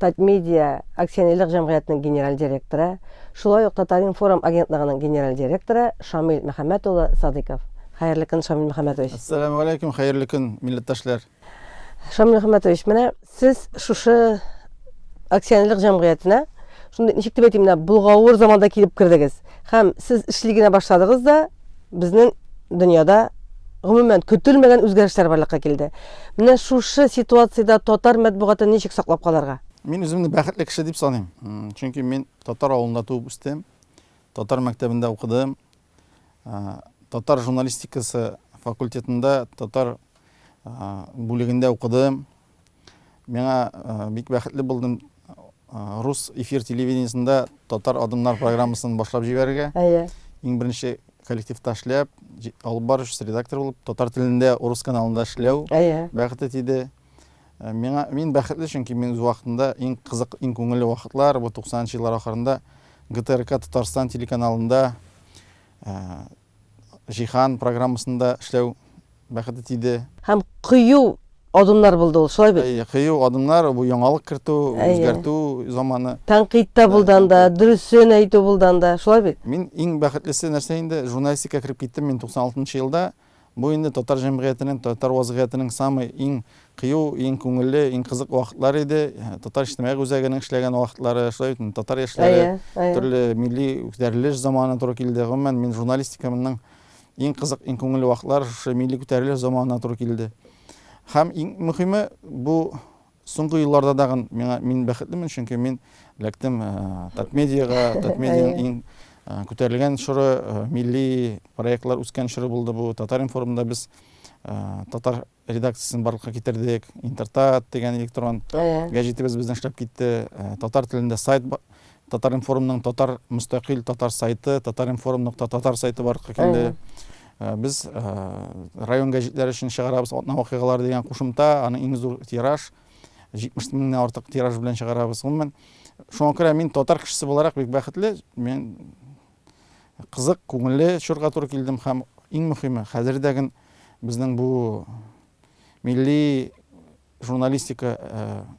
Татмедиа акционерлык җәмгыятенең генераль директоры, шулай ук Татаринформ агентлыгының генераль директоры Шамил Мөхәммәт улы Садыйков. Хәерле көн, Шамил Мөхәммәтович. Әссәләмегаләйкүм, хәерле көн, милләттәшләр. Шамил Мөхәммәтович, менә сез шушы акционерлык җәмгыятенә шундый, ничек дип әйтим, менә болгавыр заманда килеп кердегез. Һәм сез эшли генә башладыгыз да, Безнең дөньяда гомумән көтелмәгән үзгәрешләр барлыкка килде. Менә шушы ситуациядә татар матбугатын ничек саклап калырга? Мин үземне бәхетле кеше дип саныйм. Чөнки мин татар авылында туып үстем, татар мәктәбендә укыдым. Татар журналистикасы факультетында татар бүлегендә укыдым. Миңа бик бәхетле булдым рус эфир телевидениесендә татар адымнар программасын башлап җибәрергә. Әйе. Иң беренче коллективта эшләп, алып барыш редактор булып, татар телендә урыс каналында эшләү бәхете тиде. Э, миңа мин бәхетле, чөнки мин үз вакытында иң кызык, иң күңелле вакытлар, бу 90 нчы еллар ахырында ГТРК Татарстан телеканалында э, Җиһан программасында эшләү бәхете тиде. Һәм кыю адымнар булды ул, шулай бит? Әйе, кыю адымнар, бу яңалык кертү, үзгәртү заманы. Тәнкыйть тә булды анда, дөресен әйтү булды анда, шулай бит? Мин иң бәхетлесе нәрсә инде, журналистикага кереп киттем мин 96 нчы елда. Бу инде татар җәмгыятенең, татар вазгыятенең самый иң Кыю иң күңелле, иң кызык вакытлар иде. Татар иҗтимагый үзәгенең эшләгән вакытлары, шулай ук татар яшьләре, төрле милли күтәрелеш заманы туры килде. Гомумән, мин журналистикамның иң кызык, иң күңелле вакытлары шушы милли күтәрелеш заманына туры килде. Һәм иң мөһиме, бу соңгы елларда тагын миңа мин бәхетлемен, чөнки мин эләктем Татмедиага, Татмедианың иң күтәрелгән чоры, милли проектлар үскән чоры булды бу. Татар-информда без татар редакциясен барлыкка китердек, Интертат дигән электрон гәҗитебез безнең эшләп китте, татар телендә сайт Татар-информның татар мөстәкыйль татар сайты, Татар-информ нокта татар сайты барлыкка килде. Без район гәҗитләре өчен чыгарабыз атна вакыйгалары дигән кушымта, аны иң зур тираж, 70 меңнән артык тираж белән чыгарабыз. Гомумән, шуңа күрә мин татар кешесе буларак бик бәхетле. Мин Кызык, күңелле чорга туры килдем һәм иң мөхиме, хәзер дә ген безнең бу милли журналистика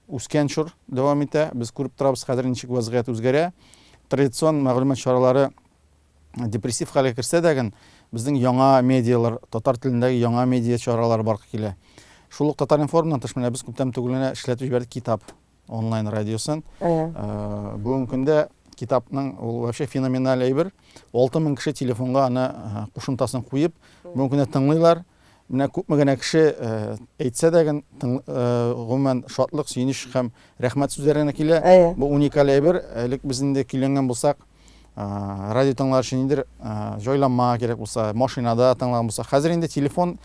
үскән чор дәвам итә. Без күреп торабыз, хәзер ничек вазгыять үзгәрә. Традицион мәгълүмат чаралары депрессив хәлгә керсә дә ген, безнең яңа медиалар, татар телендәге яңа медиа чаралары барлыкка килә. Шул ук Татар-информнан тыш, менә без күптән түгел генә эшләтеп җибәрдек китап. онлайн радиосын. Бүгенге көндә китапның ул вообще феноменаль әйбер. 6000 кеше телефонга аны кушымтасын куеп, бүгенге көндә тыңлыйлар. Менә күпме генә кеше әйтсә дә гын, гомумән шатлык, сөенеч һәм рәхмәт сүзләре генә килә. Бу уникаль әйбер. Элек без инде көйләнгән булсак, Радио тыңлар өчен ниндер җайланма кирәк булса, машинада тыңлаган булса, хәзер инде телефон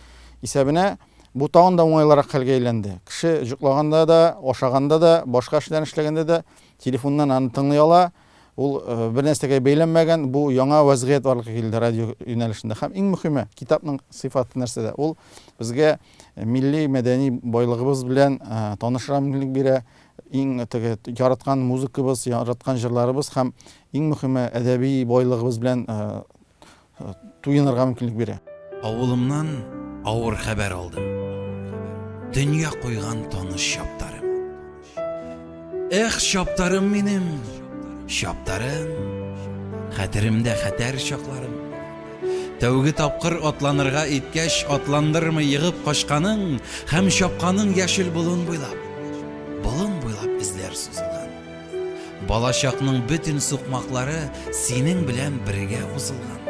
исәбенә бу тагын да уңайлырак хәлгә әйләнде. Кеше җоклаганда да, ашаганда да, башка эшләрен эшләгәндә дә телефоннан аны тыңлый ала. Ул бер нәрсәгә бәйләнмәгән, бу яңа вәзгыять барлыкка килде радио юнәлешендә. Һәм иң мөһиме, китапның сыйфаты нәрсәдә? Ул безгә милли мәдәни байлыгыбыз белән танышырга мөмкинлек бирә, Иң теге яраткан музыкабыз, яраткан җырларыбыз һәм иң мөхиме әдәби байлыгыбыз белән туенырга мөмкинлек бирә. Авылымнан авыр хәбәр алдым. Дөнья куйган таныш чаптарым. Эх, чаптарым минем, чаптарым, хәтеремдә хәтәр чакларым. Тәүге тапкыр атланырга иткәч, атландырмый егып качканың һәм чапканың яшел болын буйлап, болын буйлап эзләр сузылган. Балачакның бөтен сукмаклары синең белән бергә узылган.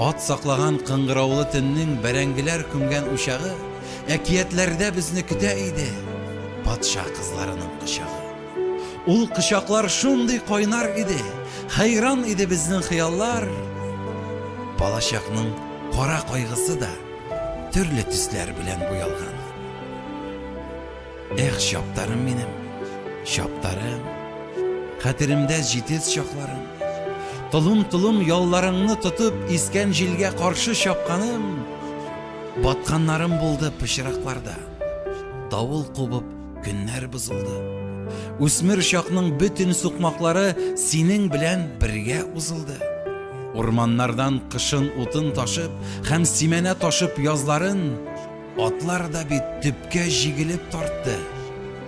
Ат саклаган кыңгыраулы төннең бәрәңгеләр күмгән учагы әкиятләрдә безне көтә иде, патша кызларының кочагы. Ул кочаклар шундый кайнар иде, хәйран иде безнең хыяллар. Балачакның кара кайгысы да төрле төсләр белән буялган. Эх, чаптарым минем, чаптарым, хәтеремдә җитез чакларым. Толым-толым ялларыңны тотып, искән җилгә каршы чапканым, батканнарым булды пычракларда. Давыл кубып, Көннәр бозылды. Үсмер чакның бөтен сукмаклары синең белән бергә узылды. Урманнардан кышын утын ташып һәм симәнә ташып язларын атлар да бит төпкә җигелеп тартты.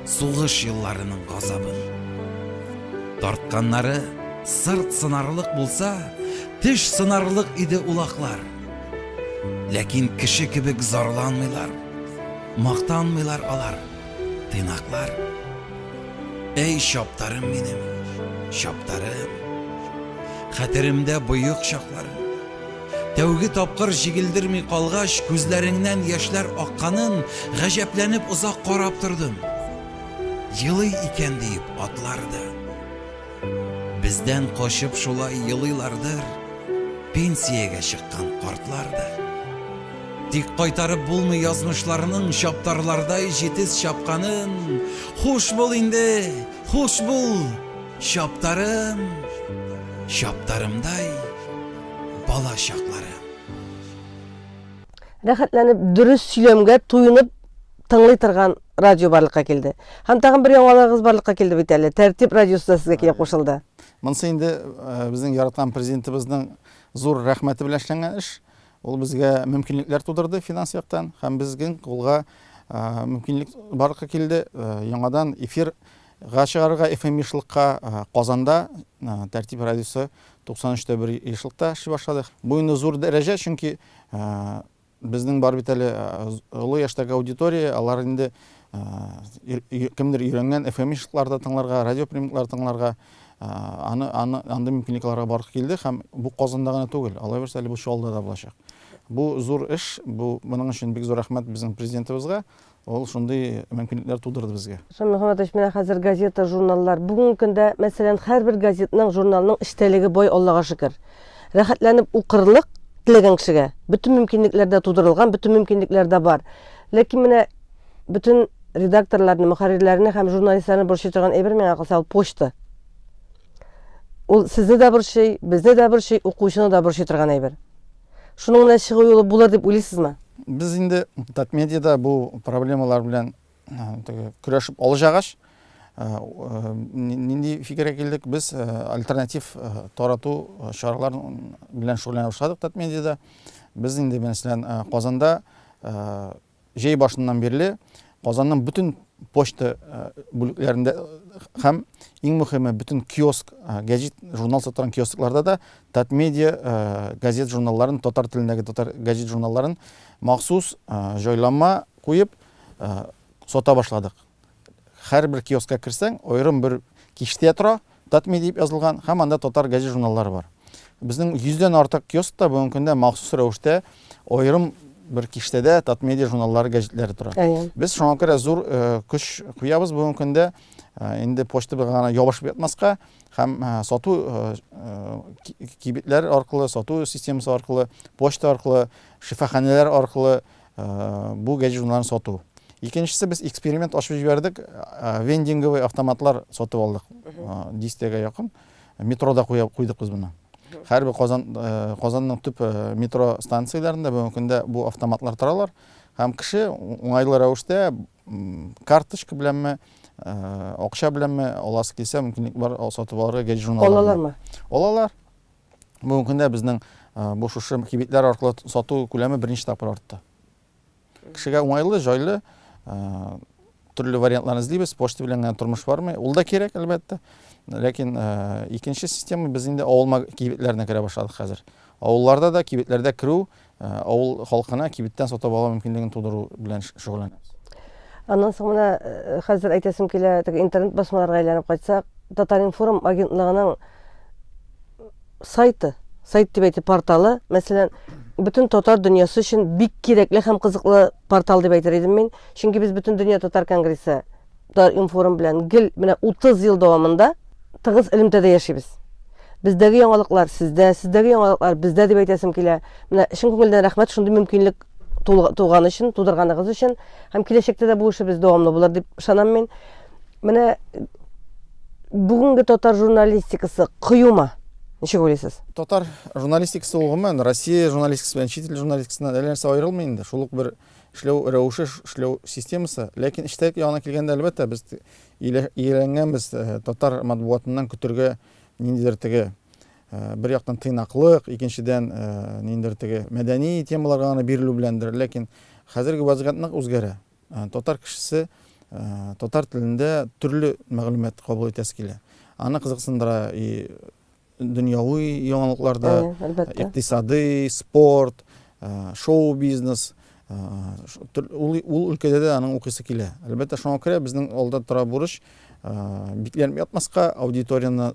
Сугыш елларының газабын. Тартканнары сырт сынарлык булса, теш сынарлык иде улаклар. Ләкин кеше кебек зарланмыйлар. Мактанмыйлар алар, тыйнаклар. Әй, чаптарым минем, чаптарым. Хәтеремдә боек чакларым. Тәүге тапкыр җигелдерми калгач, күзләреңнән яшьләр акканын гаҗәпләнеп озак карап тордым. Елый икән диеп атлар да. Бездән качып шулай елыйлардыр Пенсиягә чыккан картлар да. Тик кайтарып булмый язмышларның Чаптарлардай җитез чапканын. Хуш бул инде, хуш бул, чаптарым, Чаптарымдай бала чакларым. Рәхәтләнеп, дөрес сөйләмгә туенып тыңлый торган радио барлыкка килде. Һәм тагын бер яңалыгыгыз барлыкка килде бит әле. Тәртип радиосы да сезгә килеп кушылды. Монысы инде э, безнең яраткан президентыбызның зур рәхмәте белән эшләнгән эш. Ул безгә мөмкинлекләр тудырды финанс яктан һәм безнең кулга э, мөмкинлек барлыкка килде. Э, яңадан эфир га чыгарырга FM ешлыкка Казанда Тәртип радиосы 93 тә 1 ешлыкта эшли башлады. Бу инде зур дәрәҗә, чөнки Безнең бар бит әле олы яшьтәге аудитория, алар инде кемдер өйрәнгән FM-ишларда тыңларга, радиоприемниклар тыңларга, аны, аны, андый мөмкинлекләргә барып килде һәм бу Казанда гына түгел, алайбарса әле бу Чаллыда да булачак. Бу зур эш, бу моның өчен бик зур рәхмәт безнең президентыбызга, Ул шундый мөмкинлекләр тудырды безгә. Ислам Мөхәммәтович, менә хәзер газета, журналлар. Бүгенге көндә, мәсәлән, һәрбер газетның, журналның эчтәлеге бай, Аллага шөкер. Рәхәтләнеп укырлык теләгән кешегә бөтен мөмкинлекләр дә тудырылган, бөтен мөмкинлекләр дә бар. Ләкин менә бөтен редакторларны, мөхәррирләрне һәм журналистларны борчый торган әйбер, миңа калса, ул почта. Ул сезне дә борчый, безне дә борчый, укучыны да борчый торган әйбер. Шуның менә чыгу юлы булыр дип уйлыйсызмы? Без инде Татмедиада бу проблемалар белән көрәшеп алҗагач, нинди фикергә килдек? Без альтернатив тарату чаралар белән шөгыльләнә башладык Татмедиада. Без инде мәсәлән Казанда Җәй башыннан бирле Казанның бөтен почта бүлекләрендә һәм, иң мөхиме, бөтен киоск, гәҗит, журнал сатыран киоскларда да Татмедиа газет-журналларын, татар телендәге татар гәҗит-журналларын махсус җайланма куеп сата башладык. Һәрбер киоскка керсәң, аерым бер киштә тора, Татми дип язылган, һәм анда татар гәҗит-журналлары бар. Безнең 100 дән артык киоскта бүгенге көндә махсус рәвештә аерым бер киштәдә Татмедиа журналлары, гәҗитләре тора. Без шуңа күрә зур көч куябыз бүгенге көндә инде почта белән генә ябышып ятмаска һәм сату кибетләр аркылы, сату системасы аркылы, почта аркылы, шифаханәләр аркылы Бу гәҗит журналларын сату. Икенчесе без эксперимент ачып җибәрдек. Вендинговый автоматлар сатып алдык. Дистәгә якын. Метрода куйдык без моны. Хәрби Казан Казанның төп метро станцияләрендә бүгенге көндә бу автоматлар торалар. Һәм кеше уңайлы рәвештә карточка беләнме, акча беләнме аласы килсә мөмкинлек бар сатып алырга гәҗит журналларын. Алалармы? Алалар. Бүгенге көндә безнең бу шушы кибетләр аркылы сату күләме берничә тапкыр артты. Кешегә уңайлы, җайлы, төрле вариантлар эзлибез. Почта белән генә тормыш бармый. Ул да кирәк, әлбәттә. Ләкин икенче система без инде авылма кибетләренә керә башладык хәзер. Авылларда да кибетләрдә керү Авыл халкына кибеттән сатып алу мөмкинлеген тудыру белән шөгыльләнәбез. Аннан соң менә хәзер әйтәсем килә, теге интернет басмаларга әйләнеп кайтсак, Татаринформ агентлыгының сайты, сайт дип әйтеп порталы, мәсәлән, бөтен татар дөньясы өчен бик кирәкле һәм кызыклы портал дип әйтер идем мин, чөнки без бөтен дөнья татар конгрессы Татар-информ белән гел менә 30 ел дәвамында тыгыз элемтәдә яшибез. Бездәге яңалыклар сездә, сездәге яңалыклар бездә дип әйтәсем килә. Менә чын күңелдән рәхмәт шундый мөмкинлек туган өчен, тудырганыгыз өчен һәм киләчәктә дә бу эшебез дәвамлы булыр дип ышанам мин. Менә бүгенге татар журналистикасы кыюма. Ничек уйлыйсыз? Татар журналистикасы ул гомумән Россия журналистикасы белән чит ил журналистикасыннан әллә нәрсә аерылмый инде. Шул ук бер эшләү рәвеше, эшләү системасы. Ләкин эчтәлек ягына килгәндә, әлбәттә, без ияләнгәнбез э, татар матбугатыннан көтергә ниндидер теге э, бер яктан тыйнаклык, икенчедән э, ниндидер теге мәдәни темаларга гына бирелү беләндер. Ләкин хәзерге вазгыять нык үзгәрә. Татар кешесе татар телендә төрле мәгълүмат кабул итәсе килә. Аны кызыксындыра и дөньяви яңалыкларда, икътисадый, спорт, шоу-бизнес, ул ул өлкәдә дә аның укысы килә. Әлбәттә, шуңа күрә безнең алда тора бурыч бикләнеп ятмаска, аудиторияне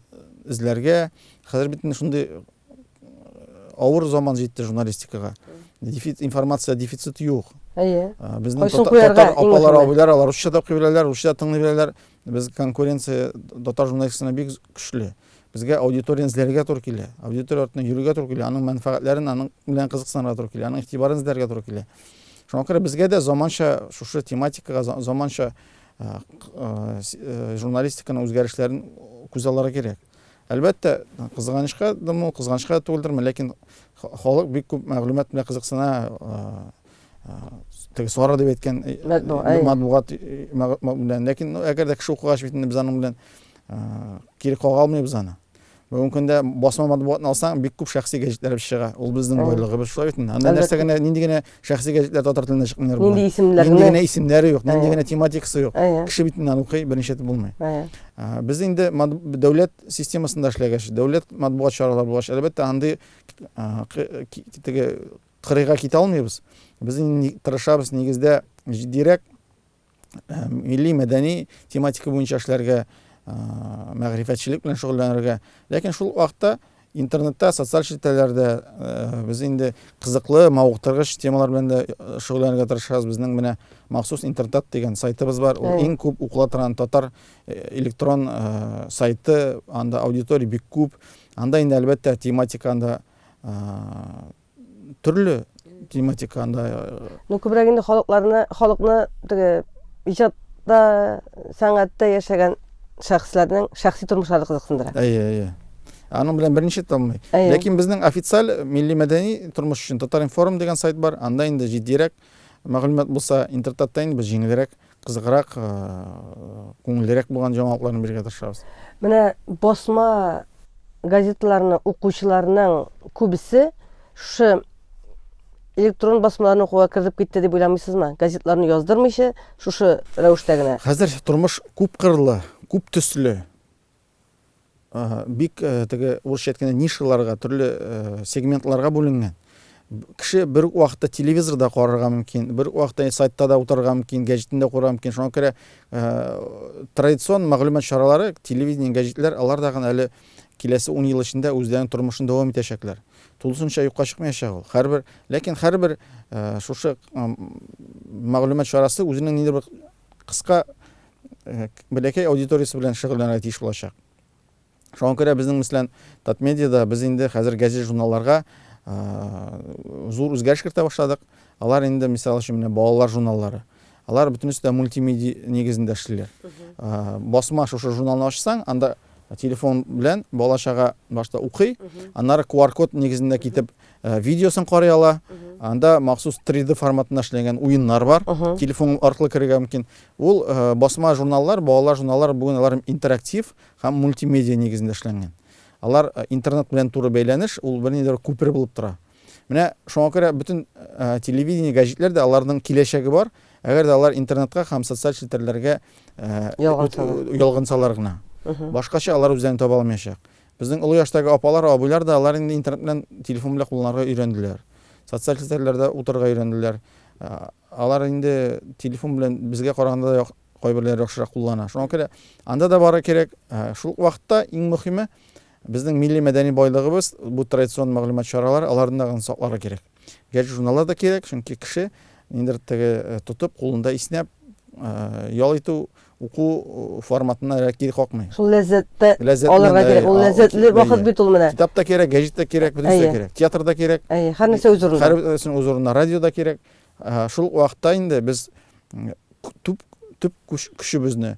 эзләргә. Хәзер бит инде шундый авыр заман җитте журналистикага. Дефицит информация дефицит юк. Әйе. Безнең татар апалар, абыйлар алар русча да укый беләләр, русча да тыңлый беләләр. Без конкуренция татар журналистикасына бик көчле. Безгә аудиторияне эзләргә туры килә. Аудитория артына йөрергә туры килә, аның мәнфәгатьләрен, аның белән кызыксынырга туры килә, аның игътибарын эзләргә туры килә. Шуңа күрә безгә дә заманча шушы тематикага заманча журналистиканың үзгәрешләрен күз аллары кирәк. Әлбәттә, кызганычка дымы, кызганычка түгелдерме, ләкин халык бик күп мәгълүмат белән кызыксына, теге сара дип әйткән матбугат белән ләкин әгәр дә кеше укыгач бит инде без аның белән кире кага алмыйбыз аны бүгенге көндә басма матбугатны алсаң бик күп шәхси гәҗитләребез чыга ул безнең байлыгыбыз шулай бит инде анда нәрсә генә нинди генә шәхси гәҗитләр татар телендә чыкмыйлар нинди исемнәр нинди генә исемнәре юк нинди генә тематикасы юк кеше бит инде укый беренче итеп булмый без инде дәүләт системасында эшләгәч дәүләт матбугат чаралары булгач әлбәттә андый теге Кырыйга китә алмыйбыз. Без инде тырышабыз нигездә җитдирәк милли мәдәни тематика буенча эшләргә, мәгърифәтчелек белән шөгыльләнергә. Ләкин шул вакытта интернетта, социаль челтәрләрдә без инде кызыклы, мавыктыргыч темалар белән дә шөгыльләнергә тырышабыз. Безнең менә махсус интертат дигән сайтыбыз бар. Ул иң күп укыла торган татар электрон сайты. Анда аудитория бик күп. Анда инде, әлбәттә, тематика анда төрле тематика анда ну күбрәк инде халыкларны халыкны теге иҗатта сәнгатьтә яшәгән шәхесләрнең шәхси тормышлары кызыксындыра әйе әйе аның белән берничә томный ләкин безнең официаль милли мәдәни тормыш өчен татар информ дигән сайт бар анда инде җитдирәк мәгълүмат булса интертатта инде без җиңелрәк Кызыграк, күңеллерәк булган җаңалыкларны бирергә тырышабыз. Менә басма газеталарны укучыларның күбесе шушы электрон басмаларны укуга кертеп китте дип уйламыйсызмы? Газетларны яздырмыйча, шушы рәвештә генә. Хәзер тормыш күп кырлы, күп төсле. Ага, бик теге урысча әйткәндә нишаларга, төрле сегментларга бүленгән. Кеше бер үк вакытта телевизор да карарга мөмкин, бер үк вакытта сайтта да утырырга мөмкин, гәҗитне дә укырга мөмкин. Шуңа күрә традицион мәгълүмат чаралары, телевидение, гәҗитләр, алар да гына әле киләсе 10 ел эчендә үзләренең тормышын дәвам итәчәкләр. Тулысынча юкка чыкмаячак ул. Һәрбер, ләкин һәрбер шушы мәгълүмат чарасы үзенең ниндидер бер кыска, бәләкәй аудиториясе белән шөгыльләнергә тиеш булачак. Шуңа күрә безнең мислән Татмедиада без инде хәзер газет-журналларга зур үзгәреш кертә башладык. Алар инде, мисал өчен, менә балалар журналлары. Алар бөтенесе дә мультимедиа нигезендә эшлиләр. Басма шушы журналны ачсаң, анда телефон белән бала-чага башта укый, аннары QR-код нигезендә китеп Э, видеосын карый ала анда махсус 3D форматында эшләнгән уеннар бар телефон аркылы керергә мөмкин ул э, басма журналлар балалар журналлар бүген алар интерактив һәм мультимедиа нигезендә эшләнгән алар э, интернет белән туры бәйләнеш ул бернидер күпер булып тора менә шуңа күрә бөтен телевидение гәҗитләр дә аларның киләчәге бар әгәр дә алар интернетка һәм социаль челтәрләргә ялгансалар гына башкача алар үзләрен таба алмаячак Безнең олы яшьтәге апалар, абыйлар да, алар инде интернет белән, телефон белән кулланырга өйрәнделәр. Социаль челтәрләрдә утырырга өйрәнделәр. Алар инде телефон белән безгә караганда да кайберләре яхшырак куллана. Шуңа күрә анда да бары кирәк. Шул ук вакытта иң мөхиме, безнең милли-мәдәни байлыгыбыз, бу традицион мәгълүмат чаралары, аларны да сакларга кирәк. Гәҗит журналлар да кирәк, чөнки кеше ниндидер теге тотып, кулында иснәп ял итү, уку форматына кире какмый. Шул ләззәтте алырга кирәк. Ул ләззәтле вакыт бит ул менә. Китап та кирәк, гәҗит тә кирәк, бөтен нәрсә кирәк. Театр да кирәк. Әйе, һәр нәрсә үз урынында. Һәр нәрсә үз урынында. Радио да кирәк. Шул вакытта инде без төп төп көчебезне,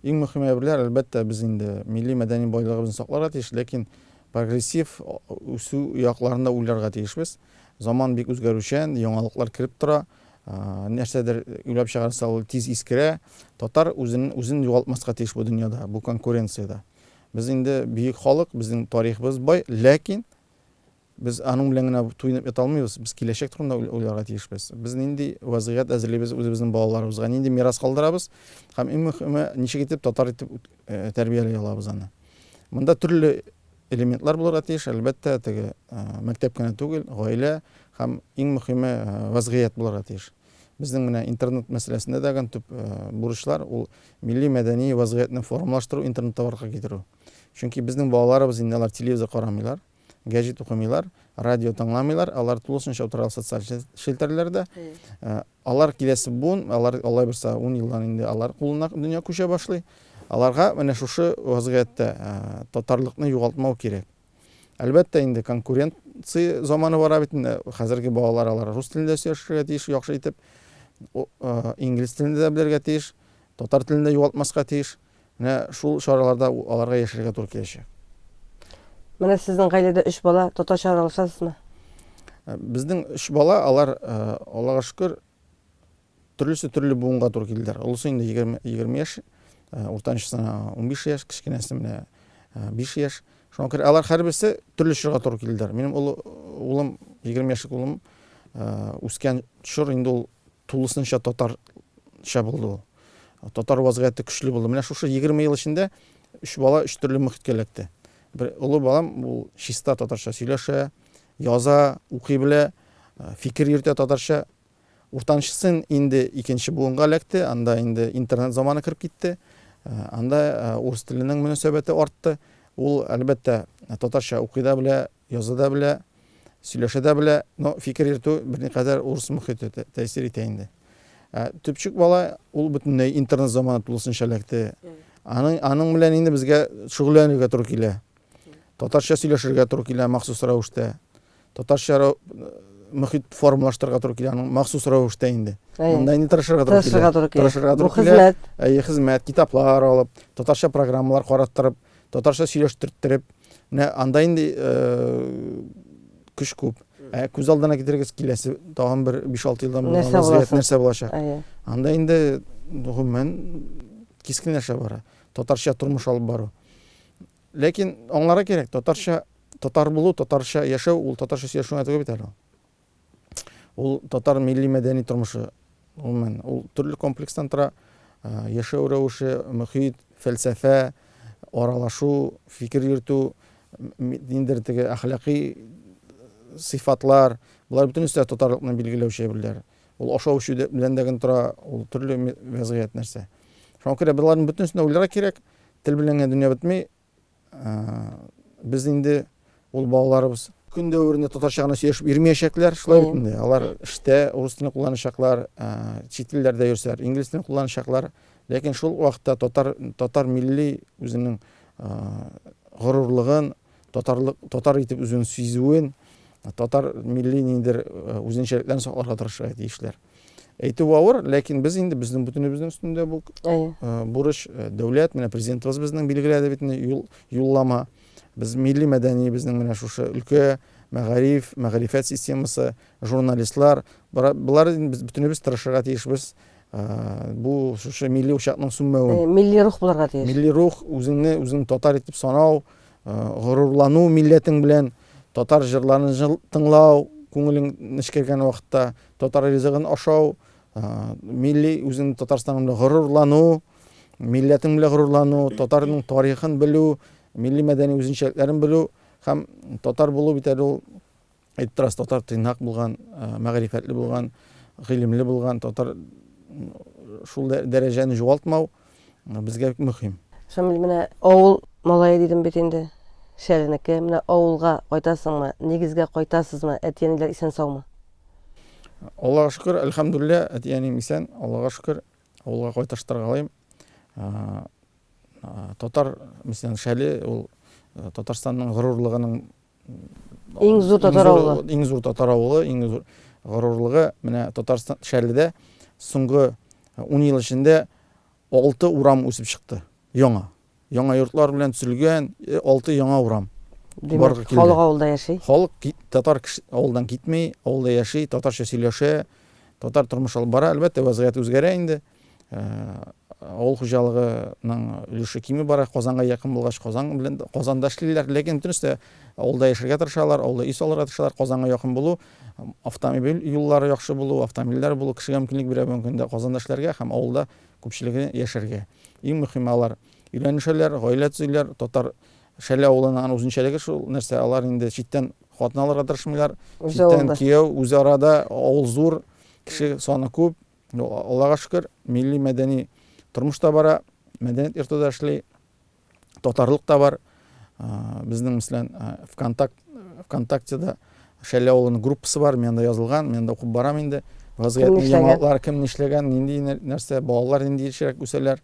Иң мөһим әйберләр, әлбәттә, без инде милли мәдәни байлыгыбызны сакларга тиеш, ләкин прогрессив үсү якларын да уйларга тиешбез. Заман бик үзгәрүчән, яңалыклар кереп тора. Нәрсәдер уйлап чыгарса, ул тиз искерә. Татар үзен, үзен югалтмаска тиеш бу дөньяда, бу конкуренциядә. Без инде бөек халык, безнең тарихыбыз бай, ләкин Без аның белән генә туенып ята алмыйбыз, без киләчәк турында уйларга тиешбез. Без нинди вәзгыять әзерлибез үзебезнең балаларыбызга, нинди мирас калдырабыз һәм иң мөхиме, ничек итеп татар итеп тәрбияли алабыз аны. Монда төрле элементлар булырга тиеш, әлбәттә, теге мәктәп кенә түгел, гаилә һәм иң мөхиме вәзгыять булырга тиеш. Безнең менә интернет мәсьәләсендә дә гән төп бурычлар ул милли мәдәни вәзгыятьне формалаштыру, интернетта барлыкка китерү. Чөнки безнең балаларыбыз инде алар телевизор карамыйлар. Гәҗит укымыйлар, радио тыңламыйлар, алар тулысынча утыралар социаль челтәрләрдә. Алар киләсе буын, алар алай булса 10 елдан инде алар кулына дөнья күчә башлый. Аларга менә шушы вазгыятьтә татарлыкны югалтмау кирәк. Әлбәттә инде конкуренция заманы бара бит инде. Хәзерге балалар алар рус телендә сөйләшергә тиеш яхшы итеп. Инглиз телендә дә белергә тиеш. Татар телендә югалтмаска тиеш. Менә шул чараларда аларга яшәргә туры киләчәк. Менә сезнең гаиләдә өч бала, татарча аралашасызмы? Безнең өч бала, алар, Аллага шөкер, төрлесе төрле буынга туры килделәр. Олысы инде егерме, егерме яшь, уртанчысына унбиш яшь, кечкенәсе менә биш яшь. Шуңа күрә алар һәрберсе төрле чорга туры килделәр. Минем олы улым, егерме яшьлек улым, үскән чор инде ул Тулысынча татарча булды ул. Татар вазгыяте көчле булды. Менә шушы егерме ел эчендә өч бала өч төрле мөхиткә эләкте. Бер олы балам ул чиста татарча сөйләшә, яза, укый белә, фикер йөртә татарча. Уртанчы сын инде икенче буынга эләкте, анда инде интернет заманы кереп китте. Анда урыс теленең мөнәсәбәте артты. Ул, әлбәттә, татарча укый да белә, Яза да белә, сөйләшә дә белә, но фикер йөртү берникадәр урыс мохите тәэсир итә инде. Ә төпчек бала, ул бөтенләй интернет заманы тулысынча эләкте. Аның, аның белән инде безгә шөгыльләнергә туры килә. Татарча сөйләшергә туры килә махсус рәвештә. Татарча мохит формалаштырырга туры килә аның махсус рәвештә инде. Монда инде тырышырга туры килә. Тырышырга туры килә. Тырышырга туры килә. Хезмәт. Әйе, хезмәт, китаплар алып, татарча программалар караттырып, татарча сөйләштертереп, Менә анда инде көч күп. Ә күз алдына китерегез киләсе тагын бер 5-6 елдан бу вазгыять нәрсә булачак? Анда инде гомумән кискенләшә бара. Татарча тормыш алып бару. Ләкин аңларга кирәк, татарча татар булу, татарча яшәү ул татарча сөйләшү генә түгел бит әле. Ул татар милли-мәдәни тормышы, гомумән, ул төрле комплекстан тора. Яшәү рәвеше, мөхит, фәлсәфә, аралашу, фикер йөртү, ниндидер теге әхлакый сыйфатлар, болар бөтен өстә татарлыкны билгеләүче әйберләр. Ул ашау-эчү белән дә генә тора, ул төрле вәзгыять нәрсә. Шуңа күрә боларның бөтенесен дә уйларга кирәк. Тел белән генә дөнья бетми, Без инде ул балаларыбыз көн дәверендә татарча гына сөйләшеп йөрмәячәкләр, шулай бит инде. Алар эштә рус телен кулланачаклар, чит телләрдә йөрсәләр, инглиз телен кулланачаклар. Ләкин шул вакытта татар татар милли үзенең горурлыгын, татарлык татар итеп үзен сизүен, татар милли ниндер үзенчәлекләрен сакларга тырышырга тиешләр. Әйтү авыр, ләкин без инде безнең бөтенебезнең өстендә бу бурыч, дәүләт, менә президентыбыз безнең билгеләде бит инде юл, юллама. Без милли мәдәни безнең менә шушы өлкә, мәгариф, мәгърифәт системасы, журналистлар, болар без бөтенебез тырышырга тиешбез. Бу шушы милли учакның сүнмәве. Милли рух булырга тиеш. Милли рух, үзеңне үзең татар итеп санау, горурлану милләтең белән, татар җырларын тыңлау, күңелең нечкергән вакытта Татар ризыгын ашау, милли үзеңнең Татарстаның белән горурлану, милләтең белән горурлану, татарның тарихын белү, милли мәдәни үзенчәлекләрен белү һәм татар булу бит әле ул әйтеп торасы татар тыйнак булган, мәгърифәтле булган, гыйлемле булган, татар шул дәрәҗәне югалтмау. безгә бик мөһим. Шамил, менә авыл малае дидем бит инде. Шәренеке. Менә авылга кайтасыңмы, нигезгә кайтасызмы, әти-әниләр исән-саумы? Аллага шөкер, әлхәмдүлиллә, әти-әнием исән, Аллага шөкер, авылга кайташтырга алыйм. Татар, мәсәлән, шәле ул Татарстанның горурлыгының Иң зур татар авылы. Иң зур татар авылы, иң зур горурлыгы менә Татарстан Шәрледә соңгы 10 ел эчендә 6 урам үсеп чыкты. Яңа. Яңа йортлар белән төзелгән 6 э, яңа урам. Димәк, халык авылда яши. Халык татар авылдан китми, авылда яши, татарча сөйләшә, татар тормыш алып бара. Әлбәттә, вазгыять үзгәрә инде. авыл хуҗалыгының өлеше кими бара. Казанга якын булгач, Казан белән Казанда эшлиләр, ләкин бөтенесе дә авылда яшәргә тырышалар, авылда өй салырга тырышалар. Казанга якын булу, автомобиль юллары яхшы булу, автомобильләр булу кешегә мөмкинлек бирә бүгенге көндә Казанда эшләргә һәм авылда күпчелеге яшәргә. Иң мөһиме алар өйләнешәләр, гаилә төзиләр. Татар Шәле авылының аның үзенчәлеге шул нәрсә, алар инде читтән хатын алырга тырышмыйлар, читтән кияү, үзара да авыл зур, кеше саны күп, Ну, Аллага шөкер, милли-мәдәни тормыш та бара, мәдәният йорты да эшли, татарлык та бар. Безнең, мәсәлән, ВКонтакт, ВКонтактеда Шәле авылының группасы бар, мен анда язылган, мен анда укып барам инде. Вазгыятьне яңалыклар кем нишләгән, нинди нәрсә, балалар нинди ешрәк үсәләр.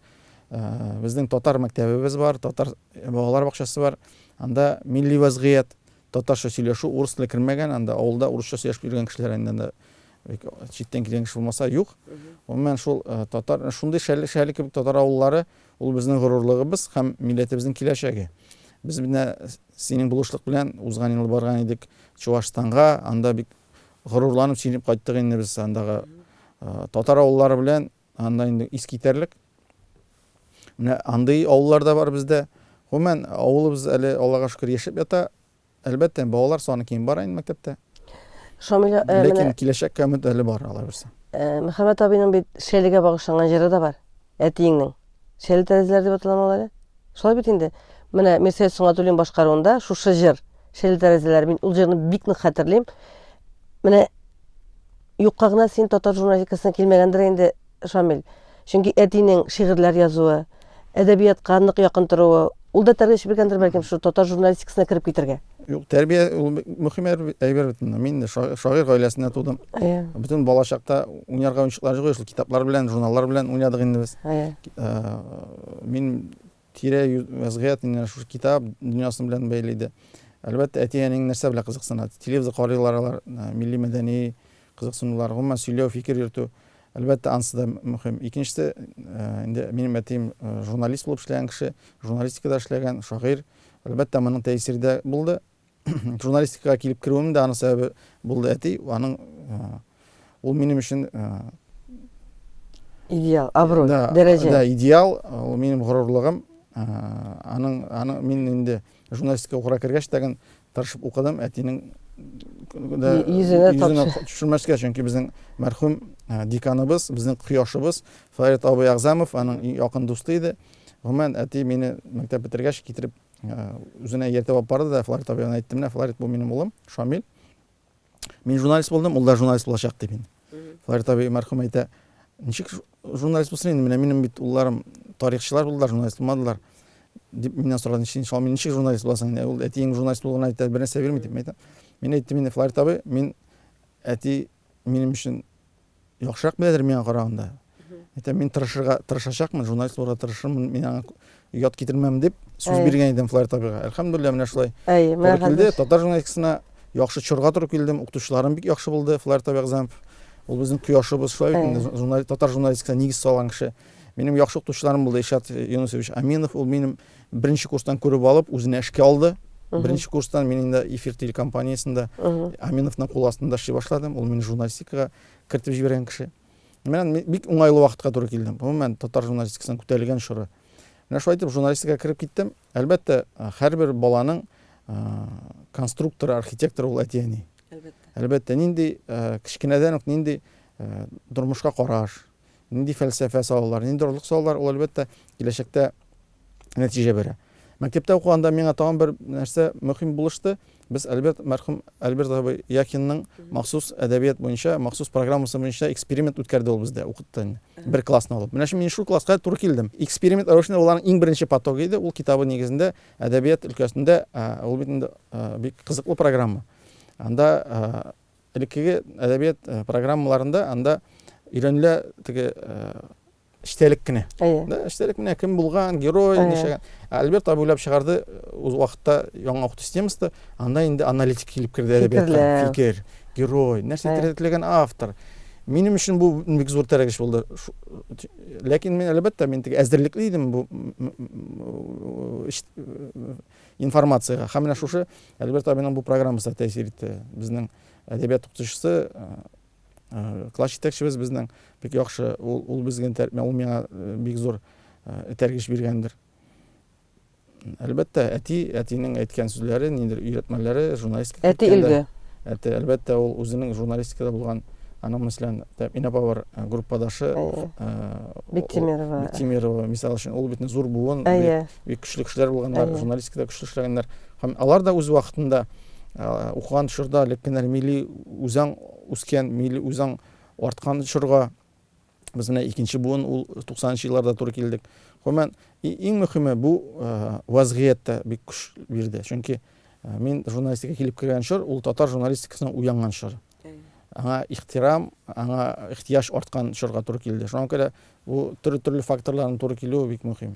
Безнең татар мәктәбебез бар, татар балалар бакчасы бар. Анда милли вазгыять, Татарча сөйләшү, урыс теле кермәгән анда, авылда урысча сөйләшеп йөргән кешеләр инде анда, бик читтән килгән кеше булмаса, юк. Гомумән, шул татар, шундый шәле, шәле кебек татар авыллары, ул безнең горурлыгыбыз һәм милләтебезнең киләчәге. Без менә синең булышлык белән узган ел барган идек Чуашстанга, анда бик горурланып сөйләп кайттык инде без андагы татар авыллары белән. Анда инде искитәрлек. Менә андый авыллар да бар бездә. Гомумән, авылыбыз әле, Аллага шөкер, яшәп ята. Әлбәттә, балалар саны кими бара инде мәктәптә. Шамил, э, Ләкин менә киләчәккә өмет әле бар, Алла бирса. э, Мөхәммәт абыйның бит Шәлегә багышланган җыры да бар. Әтиеңнең. Шәле тәрәзәләре дип аталамы ул әле? Шулай бит инде. Менә Мирсәет Сөнгатуллин башкаруында шушы җыр, Шәле тәрәзәләре, мин ул җырны бик нык хәтерлим. Менә Юкка гына син татар журналистикасына килмәгәндер инде, Шамил. Чөнки әтинең шигырьләр язуы, әдәбиятка нык якын торуы, ул да тәрбия чибергәндер, бәлкем, шул татар журналистикасына кереп китергә. Юк, тәрбия ул мөһим әйбер бит инде. Мин шагыйрь гаиләсендә тудым. Әйе. Бөтен балачакта уйнарга уенчыклар җыйгыш, китаплар белән, журналлар белән уйнадык инде без. Әйе. Мин Тирә-юнь вәзгыять инде шушы китап дөньясы белән бәйле иде. Әлбәттә, әти-әниең нәрсә белән кызыксына? Телевизор карыйлар алар, милли-мәдәни кызыксынулар, гомумән сөйләү, фикер йөртү, әлбәттә, ансы да мөһим. Икенчесе, инде минем әтием журналист булып эшләгән кеше, журналистикада эшләгән, шагыйрь. Әлбәттә, моның тәэсире дә булды. Журналистикага килеп керүем дә аның сәбәбе булды әти. Аның ул минем өчен идеал, абруй, дәрәҗә. Да, идеал, ул минем горурлыгым. Аның аның мин инде журналистика укырга кергәч тәген тырышып укыдым. Әтинең йөзенә төшермәскә, чөнки безнең мәрхүм деканыбыз, безнең кояшыбыз Фарид абый Агзамов аның якын дусты иде. Гомумән, әти мине мәктәп бетергәч китереп Үзенә ияртеп алып барды да Фларит абыйга әйтте, менә Фларит бу минем улым, Шамил. Мин журналист булдым, ул да журналист булачак дип инде. Фларит абый мәрхүм әйтә, ничек журналист булсын инде, менә минем бит улларым тарихчылар булдылар, журналист булмадылар дип миннән сорады, ничек иншалла мин ничек журналист буласың инде, ул әтиең журналист булуын әйтә, бер нәрсә бирми дип әйтә. Мин әйттем инде Фларит абый, мин әти минем өчен яхшырак беләдер миңа караганда. Әйтәм, мин тырышырга тырышачакмын, журналист булырга тырышырмын, мин аңа ят китермәм дип сүз Әйе. биргән идем Флайер Табига. Әлхәмдулилла, менә шулай. Әйе, менә килде. Татар журналистикасына яхшы чорга туры килдем. Укытучыларым бик яхшы булды, Флайер Табига Замп. Ул безнең кояшыбыз, шулай бит инде журналист, татар журналистикасына нигез салган кеше. Минем яхшы укытучыларым булды, Ишат Юнусович Аминов, ул минем Беренче курстан күреп алып, үзенә эшкә алды. Беренче курстан мин инде эфир телекомпаниясендә Аминовның кул астында эшли башладым. Ул мине журналистикага кертеп җибәргән кеше. Мен бик уңайлы вакытка туры килдем. Гомумән, татар журналистикасының күтәрелгән чоры. Менә шулай итеп журналистикага кереп киттем. Әлбәттә, һәрбер баланың конструкторы, архитекторы ул әти-әни. Әлбәттә. Әлбәттә, нинди кечкенәдән үк нинди тормышка караш, Нинди фәлсәфә салалар, нинди орлык салалар, ул, әлбәттә, киләчәктә нәтиҗә бирә. Мәктәптә укыганда миңа тагын бер нәрсә мөһим булышты. Без Альберт, мәрхүм Альберт абый Якинның махсус әдәбият буенча, махсус программасы буенча эксперимент үткәрде ул бездә, укытты инде. Бер классны алып. Менә шул мин шул класска туры килдем. Эксперимент рәвешендә уларның иң беренче потогы иде. Ул китабы нигезендә әдәбият өлкәсендә, ул бит инде бик кызыклы программа. Анда Элеккеге әдәбият э, программаларында анда өйрәнелә теге э, эчтәлек кенә. Да, эчтәлек менә кем булган, герой, ничәгән. Ә Альберт абый уйлап чыгарды э, үз вакытта яңа укыту системасында, анда инде аналитик килеп керде әдәбиятка. Фикер, герой, нәрсә теләгән автор. Минем өчен бу бик зур тәрәгеш булды. Ләкин мин әлбәттә мин теге әзерлекле идем бу информациягә. Һәм менә шушы Альберт абыйның бу программасы да тәэсир итте. Безнең әдәбият укытучысы, класс җитәкчебез безнең бик яхшы, ул, ул безгә тәрбия, ул миңа бик зур этәргеч биргәндер. Әлбәттә, әти, әтинең әйткән сүзләре, ниндер өйрәтмәләре журналистика. Әти илге. Әти, әлбәттә, ул үзенең журналистикада булган аның мәсәлән, Инә Павар группадашы Биктимирова. Биктимирова, мисал өчен, ул бит зур буын. Әйе. бик көчле кешеләр булганнар журналистикада көчле эшләгәннәр һәм алар да үз вакытында укыган чорда элек кенә милли үзаң үскән милли үзаң арткан чорга без менә икенче буын ул туксанынчы елларда туры килдек гомумән иң мөһиме бу вазгыять та бик көч бирде чөнки мин журналистика килеп кергән чор ул татар журналистикасының уянган чоры аңа ихтирам аңа ихтияҗ арткан чорга туры килде шуңа күрә бу төрле төрле факторларның туры килүе бик мөһим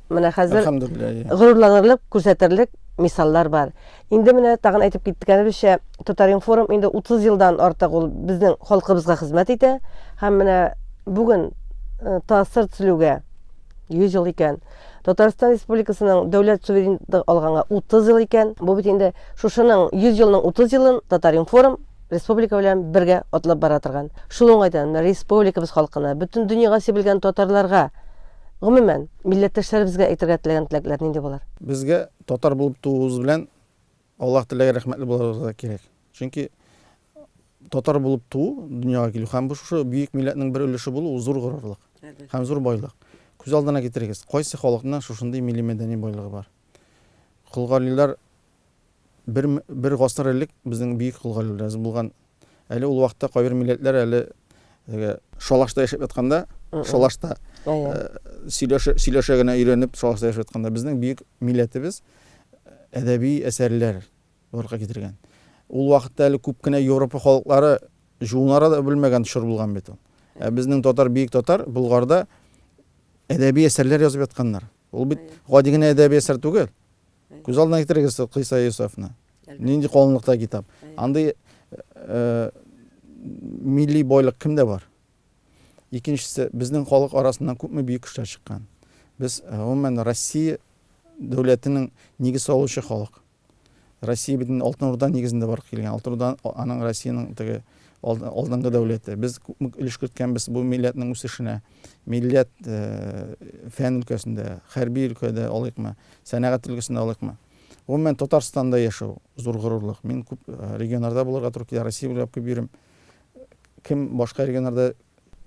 Менә хәзер горурланырлык, күрсәтерлек мисаллар бар. Инде менә тагын әйтеп киткәнебезчә, Татаринформ инде 30 елдан артык ул безнең халкыбызга хезмәт итә һәм менә бүген э, тасыр төзелүгә 100 ел икән. Татарстан Республикасының дәүләт суверенлыгы алганга 30 ел икән. Бу бит инде шушының 100 елның 30 елын Татаринформ республика белән бергә атлап бара торган. Шул уңайдан республикабыз халкына, бөтен дөньяга сибелгән татарларга Гомумән, милләттәшләребезгә әйтергә теләгән теләкләр нинди булыр? Безгә татар булып тууыбыз белән Аллаһ Тәгаләгә рәхмәтле булырга кирәк. Чөнки татар булып туу, дөньяга килү һәм бу шушы бөек милләтнең бер өлеше булу ул зур горурлык һәм зур байлык. Күз алдына китерегез, кайсы халыкның шушындый милли-мәдәни байлыгы бар? Колгарилар Бер, бер гасыр элек безнең бөек кол галиләребез булган. Әле ул вакытта кайбер милләтләр әле теге шалашта яшәп ятканда, шалашта Әйе. э, сөйләшә, сөйләшә генә өйрәнеп шалашта яшәп ятканда безнең бөек милләтебез э, әдәби әсәрләр барлыкка китергән. Ул вакытта әле күп кенә Европа халыклары жуынара да белмәгән чор булган бит ул. Ә безнең татар, бөек татар Болгарда әдәби әсәрләр язып ятканнар. Ул бит гади генә әдәби әсәр түгел. Күз алдына китерегез Кыйса Йосефны. Нинди калынлыкта китап. Андый милли бойлык кемдә бар? Икенчесе, безнең халык арасыннан күпме бөек кешеләр чыккан. Без гомумән Россия дәүләтенең нигез салучы халык. Россия бит инде Алтын Урда нигезендә барып килгән. Алтын Урда аның Россиянең теге алдынгы дәүләте. Без күпме өлеш керткәнбез бу милләтнең үсешенә. Милләт, фән өлкәсендә, хәрби өлкәдә алыйкмы, сәнәгать өлкәсендә алыйкмы, гомумән, Татарстанда яшәү, зур горурлык. Мин күп регионнарда булырга туры килә, Россия буйлап күп йөрим. Кем башка регионнарда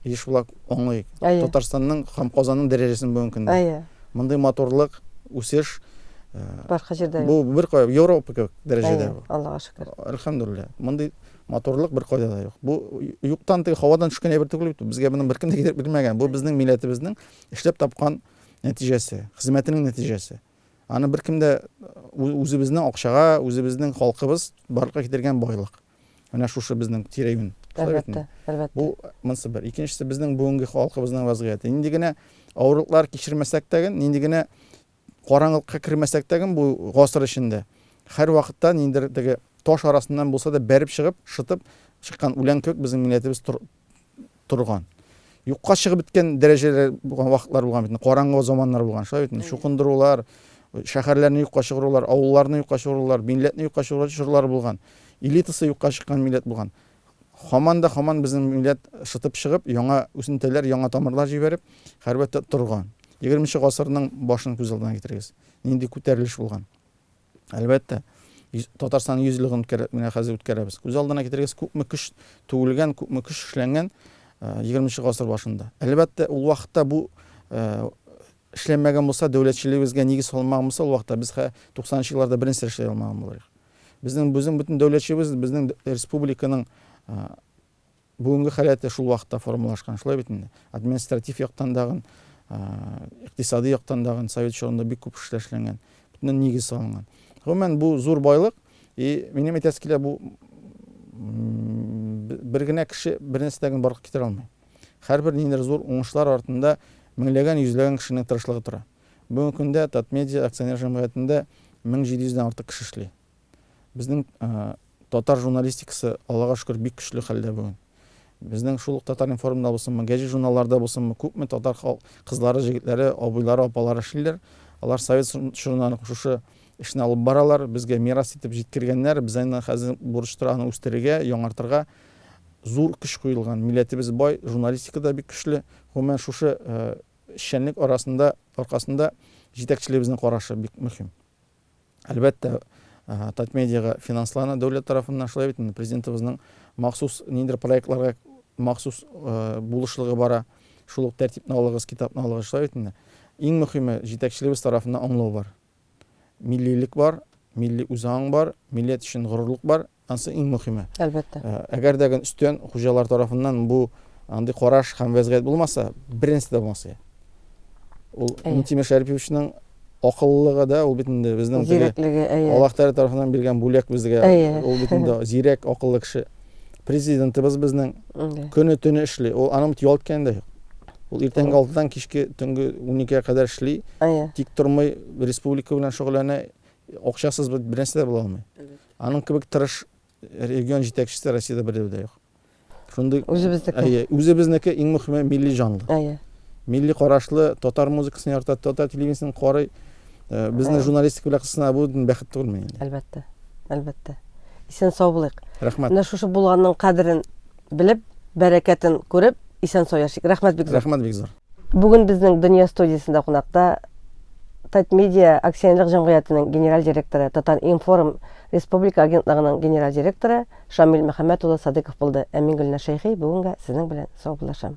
еш була, аңлыйк. Татарстанның һәм Казанның дәрәҗәсен бүгенге көндә. Мондый матурлык, үсеш, башка җирдә юк. Бу беркая, Европа кебек дәрәҗәдә бу. Аллага шөкер. Әлхәмдүлилләһ. Мондый Матурлык беркайда да юк. Бу юктан теге һавадан төшкән әйбер түгел бит. Безгә моны беркем дә китереп бирмәгән. Бу безнең милләтебезнең эшләп тапкан нәтиҗәсе, хезмәтенең нәтиҗәсе. Аны беркем дә үзебезнең акчага, үзебезнең халкыбыз барлыкка китергән байлык. Менә шушы безнең тирәюн. Әлбәттә, әлбәттә. Бу монсы бер. Икенчесе безнең бүгенге халкыбызның вазгыяте. Нинди генә авырлыклар кичермәсәк тә, нинди генә Караңгылыкка кермәсәк тәген бу гасыр эчендә, һәрвакытта ниндидер теге таш арасыннан булса да бәреп чыгып, шытып чыккан үлән кебек безнең милләтебез тор, торган. Юкка чыгып беткән дәрәҗәләр булган вакытлар булган бит, караңгы заманнар булган, шулай бит, чукындырулар, шәһәрләрне юкка чыгарулар, авылларны юкка чыгарулар, милләтне юкка чыгарулар чорлары булган. Элитасы юкка чыккан милләт булган. Һаман да һаман безнең милләт шытып чыгып, яңа үсентеләр, яңа тамырлар җибәреп, хәрбәттә торган. Егерменче гасырның башын күз алдына китерегез. Нинди күтәрелеш булган. Әлбәттә, Татарстан 100 еллыгын менә хәзер үткәрәбез. Күз алдына китерегез, күпме көч түгелгән, күпме көч эшләнгән 20 гасыр башында. Әлбәттә, ул вакытта бу Эшләнмәгән булса, дәүләтчелегебезгә нигез салынмаган булса, ул вакытта без хә 90 нчы елларда берни сер эшләй алмаган булырыйк. Безнең безнең бөтен дәүләтчебез, безнең республиканың бүгенге халәте шул вакытта формалашкан, шулай бит инде. Административ яктан дагын, икътисади яктан дагын совет чорында бик күп эшләр эшләнгән. Бөтенен нигез салынган. Гомумән, бу зур байлык. И минем әйтәсе килә, бу бер генә кеше бер нәрсә дә генә барлыкка китерә алмый. Һәрбер ниндидер зур уңышлар артында меңләгән, йөзләгән кешенең тырышлыгы тора. Бүгенге көндә Татмедиа акционер җәмгыятендә 1700 дән артык кеше эшли. Безнең татар журналистикасы, Аллага шөкер, бик көчле хәлдә бүген. Безнең шул ук Татар-информда булсынмы, гәҗит журналларда булсынмы, күпме татар кызлары, җегетләре, абыйлары, апалары эшлиләр. Алар совет чорыннан ук шушы эшне алып баралар, безгә мирас итеп җиткергәннәр. Без аны хәзер бурыч тора аны үстерергә, яңартырга. Зур көч куелган. Милләтебез бай, журналистика да бик көчле. Гомумән, шушы эшчәнлек арасында, аркасында җитәкчелегебезнең карашы бик мөһим. Әлбәттә, Татмедиага финанслана дәүләт тарафыннан, шулай бит инде, Президентыбызның махсус ниндидер проектларга махсус булышлыгы бара. Шул ук тәртипне алыгыз, китапны алыгыз, шулай бит инде. Иң мөһиме, җитәкчелегебез тарафыннан аңлау бар. миллилек бар, милли үзаң бар, милләт өчен горурлык бар, анысы иң мөхиме. Әлбәттә. Э, әгәр дә өстен хуҗалар тарафыннан бу андый караш һәм вәзгыять булмаса, беренче дә булмас иде. Ул Минтимер Шәриповичның акыллылыгы да, ул бит инде безнең теге Аллаһ Тәгалә тарафыннан биргән бүләк безгә. Ул бит инде зирәк, акыллы кеше. Президентыбыз безнең көне төне эшли. Ул аның бит ял иткәне дә юк. Ул иртәнге 6-дан кичке төнге 12-гә кадәр эшли. Тик тормый, республика белән шөгыльләнә. Акчасыз бит бернәрсә дә була алмый. Аның кебек тырыш регион җитәкчесе Россиядә бердә дә юк. Шундый үзебезнеке. Әйе, үзебезнеке иң мөһиме милли җанлы. Әйе. Милли карашлы, татар музыкасын ярата, татар телевидениесен карый. Э, безнең журналистика белән кысына бу бәхет түгелме инде әлбәттә әлбәттә исән сау булыйк рәхмәт менә шушы булганның кадерен белеп бәрәкәтен күреп исән сау яшик рәхмәт бик зур рәхмәт бик зур бүген безнең дөнья студиясендә кунакта татмедиа акционерлык җәмгыятенең генераль директоры татар информ республика агентлыгының генераль директоры шамил мөхәммәт улы садыков булды ә мин гөлнә шәйхи бүгенгә сезнең белән саубуллашам